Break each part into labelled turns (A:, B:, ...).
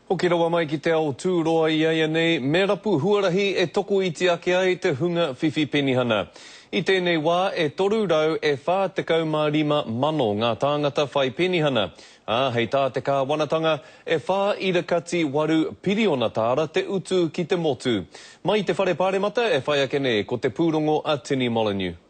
A: Hoki rawa mai ki te ao tūroa i aianei me rapu huarahi e tokoiti ake ai te hunga whiwhi penihana. I tēnei wā e 345 mano ngā tāngata whai penihana, ā, hei tā te kāwanatanga, e whā ira kati waru piriona tāra te utu ki te motu. Mai i te Whare Pāremata e whai ake nei ko te pūrongo a Tini Molyneux.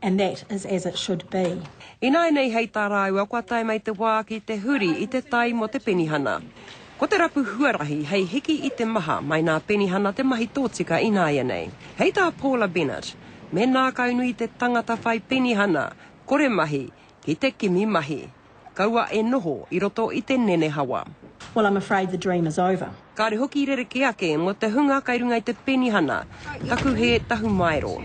B: and that is as it should be. Ināianei hei
C: tā rāua kua tae mai te wā ki te huri i te tai mō te penihana. Ko te rapu huarahi hei hiki i te maha mai nā penihana te mahi tōtika ināianei. Hei tā Paula Bennett, me nākaunui te tangata whai penihana, kore mahi, ki te kimi mahi. Kaua e noho i roto i te nenehawa. Well I'm afraid the
B: dream is over. Kāre hoki rerekē
C: ake mō te hunga kai runga i te penihana, taku hē tahumaero.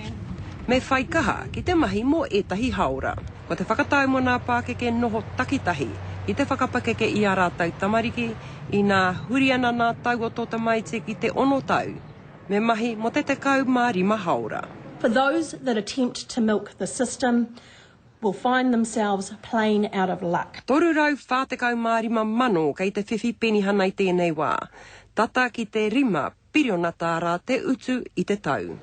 C: Me whai kaha ki te mahi mō ētahi hāora. Ko te whakatau mō nā pākeke noho takitahi ki te whakapakeke i ā rātou tamariki, inā huri ana nā tau o tō tamaiti ki te ono tau, me mahi mō te tekau mā rima hāora. For those
B: that attempt to milk the system, will find themselves plain out of luck. 345,000
C: kei te whiwhi penihana i tēnei wā, tata ki te rima piriona tāra te utu i te tau.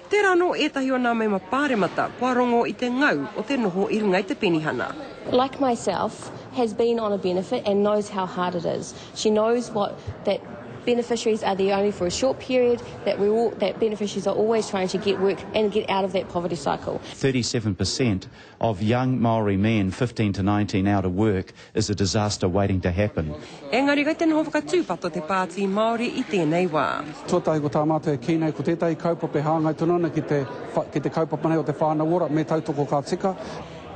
C: Tērā anō ētahi o nā mema pāremata kua rongo i te ngau o te noho i runga i te penihana. like myself,
D: has been on a benefit and knows how hard it is. She knows what that beneficiaries are there only for a short period, that we're all, that beneficiaries are always trying to get work and get out of that poverty cycle. 37 per cent
E: of young Māori men 15 to 19 out of work is a disaster waiting to happen. Engari kei te noho
C: whakatūpato te Pāti Māori i tēnei wā. Tuatahi ko tā mātou
F: e kī nei ko tētahi kaupapa e hāngai tonu ana ki te ki te kaupapa nei o te whānau ora me tautoko ka tika,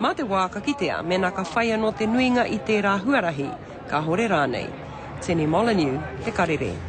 F: Mā te wā
C: ka kitea mēnā ka whai anō te nuinga i tērā huarahi, kāhore rānei. Tini Molyneux, Te Karere.